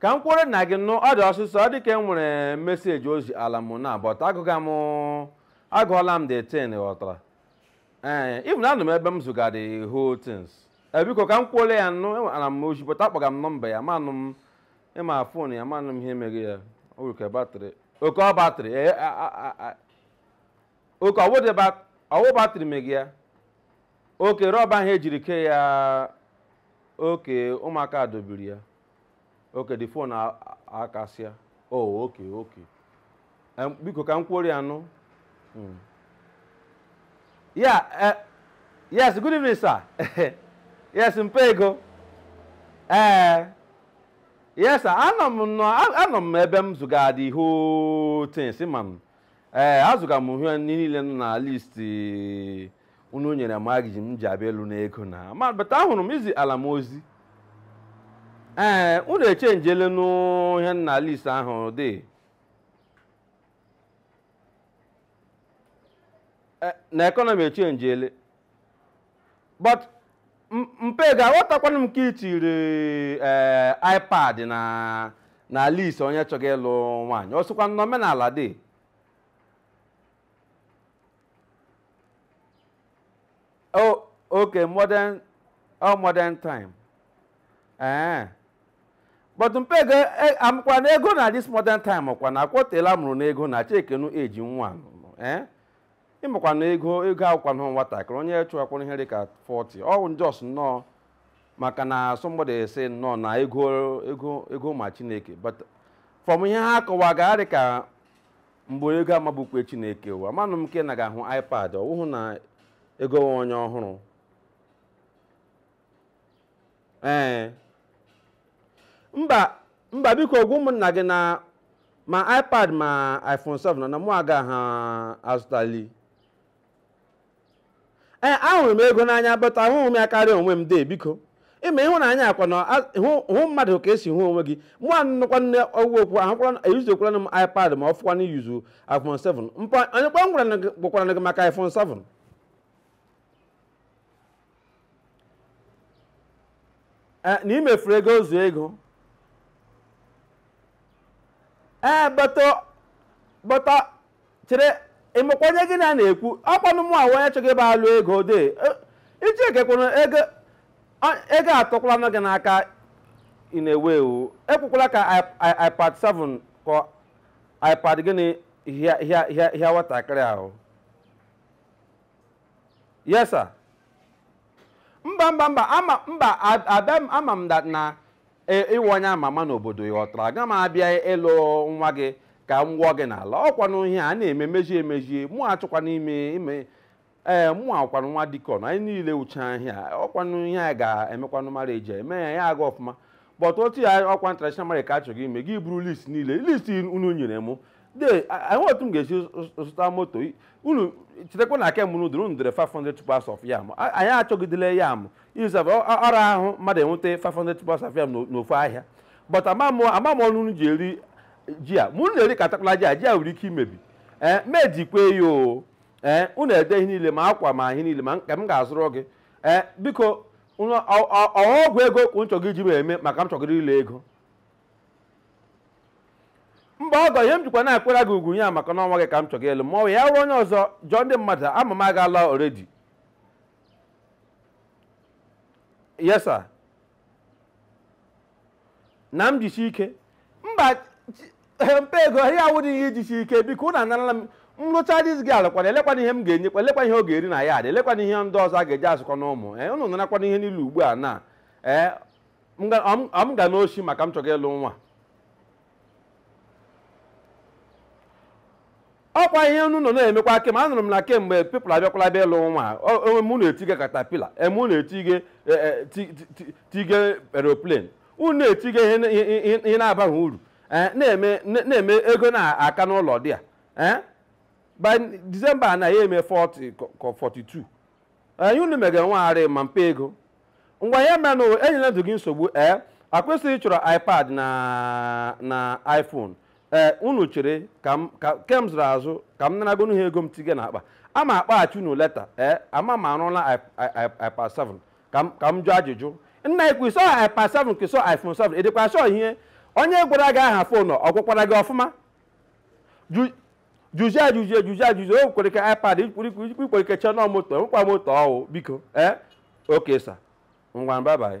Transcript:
ka m kwuole na gị nụ ọ dị ọsịsọ ọ dị ka e nwere message o ziala m na but agụga m agụọla m the thing ghọtara ee even anọ m ebe m zụga the whole things ee biko ka m kwuole ya nụ enwetara m ozi but akpọga m nọmba ya manụ m ị ma phone ya manụ m ihe mega ya o nwere ka batrị okay ọ batrị ee a- a- a- a- okay ọ wụ the bat- ọ wụ batrị mega ya okay rọba ahụ e jiri kee ya okay ụmụaka dọbiri ya okay the phone a- a- akasịa oh okay okay Em, biko ka m kwuoro ya nụ Mm. ya eh, yes good evening sir yes mpa Ego ee yes sir anọ m nọ a- anọ m ebe m zụga the whole things ma m ee azụga m ihe niile nọ na list unu nyere m m ga-eji abịa alụ n'ego na ma but ahụrụ m i ziala m ozi ee unu echenjele nụ ihe nọ na list ahụ dị Eh, na economy echenjele but m- mpa Ego aghọtakwanụ m nke i tiri ee ipad na na list onye chọga ịlụ nwaanyị o sikwa n'omenala dị oh okay modern oh modern time ee but mpa Ego e- amụkwanụ Ego na this modern time kwa na ọ kwa o teela a mụrụ na ego na chekienụ age nwa anụnụ ee ị makwa na Ego Ego awụkwanụ nwatakịrị onye chụwakwara ihe dịka 40 ọ bụ just nnọọ maka na somebody sị nnọọ na ego ego ego ma chineke but from ihe ha kọwaga dịka mgbe onye Ego mabukwa chineke ụwa manụ m nke na ga-ahụ ipad ọ wụhụ na ego nwa onye ọhụrụ ee mba mba biko gwa ụmụnna gị na ma ipad ma iphone 7 na mụ agaha azụtali ee ahụrụ m Ego n'anya but ahụghị m ya karịa onwe m dee biko ị ma ịhụnanya ọ kwa ịhụ mmadụ ka e si ahụ onwe gị mụ anụkwa nne ọgwụ okwu ahụkwara eyuzukwana m ipad ma ọ fọkwa na iyuzu iphone 7 mpa onye kwa ngwara gwakwara gị maka iphone 7 Eh, na imefuru ego ozu ego ee eh, but chere ị makwa onye gị na ya na-ekwu ọ kwanụ mụwa onye chọga ịbịa alụ Ego de iji ekekwana ego ego atọkwalanụ gị n'aka ị na-ewu ewu ekwekwala ka ipad 7 ka ipad gịnị hịa nwatakịrị ahụ yes sir mba mba mba ama mba ab- abịa m ama m that na e- ị wụ onye ama ama n'obodo ị ghọtara aga m abịa ịlụ nwa gị ka m gwọ gị n'ala ọkwanụ ihe a na-eme mezie emezie mụ achọkwa n'ime ime ee mụwa kwanụ nwa dikọn anyị niile wụcha ihe a ọkwanụ ihe a ga-emekwanụ mara e ji eme ya ya aga ọfụma but otu ya ọkwa traditional marriage ka a chọga ime gị buru list niile list unu nyere m de enwe otu m ga-esi zụta moto unu chetakwa na aka mụrụ dụrụ unu dere 500 tubers of yam anyị achọgidele yam izab ọ ra ahụ mmadụ inweta 500 tubers of yam n'ofu ahịa but ama m ọnụ unu ji eri ji a mụ na-eri ka takwala ji a ji a nwere ike imebi ee mejikwe ya o ee unu ede ihe niile ma akwa ma ihe niile ma nke m ga-azụrụ gị ee biko ọgwụ ego ka unu chọga iji m eme maka m chọgara ịlụ ego mgbe ọgọ ihe m jikwa na-akwere gị ugwu ya maka na ọ nwa gị ka m chọga ịlụ ma ọ ya wụrụ onye ọzọ jụọ ndị mmadụ ama m agaala already yes sir na m jisi ike mba chi- mpa ego ihe awụdị ihe ijisi ike biko ụnụ anarala m m lụcha dis gị alụkwana elekwanụ ihe m ga-enyekwa elekwa ihe ọ ga-eri na ya adị elekwanụ ihe ndị ọzọ a ga-eji azụkwa na ụmụ ee ụnụ narakwanụ ihe niile ugbu a na ee m ga- ọ m- ọ m gaa n'oshi maka m chọga ịlụ nwa ọkwa ihe unu nọ na-emekwa kem anụrụ m na kemgbe people abịakwala bịa ịlụ nwa unu na-etige caterpillar unu na-etige e, e, ti- ti- ti- tige aeroplane unu na-etige ihe na- ihe- ihe- ihe na-abaghị uru eh, na-eme na- na-eme ego na-aka n'ụlọ dị a eh? by December na ya eme 40 ka- ka 42 ihe unu megara nwagharị ma mpa ego ngwa ihe menụ enyela ndụ gị nsogbu ee ọkwa ị sị ị chọrọ ipad na na iphone ee unu chere ka m ka kem zụrụ azụ ka m naragonu ha ego m tige na akpa ama akpọghachi unu later ee ama m arụla i- i- i- ipad 7 ka m ka m jụọ ajụjụ nna ukwu ị sị ọ ipad 7 ka ị sị ọ iphone 7 ị dịkwa sure ihe onye gwara gị aha phone ọ gwakwara gị ọfụma Ju- jụzie ajụzie jụzie ajụzie o kwere ka ipad ikwere ike chọọ nọ moto nwekwa moto ọwụ biko ee okay sir ngwa bye bye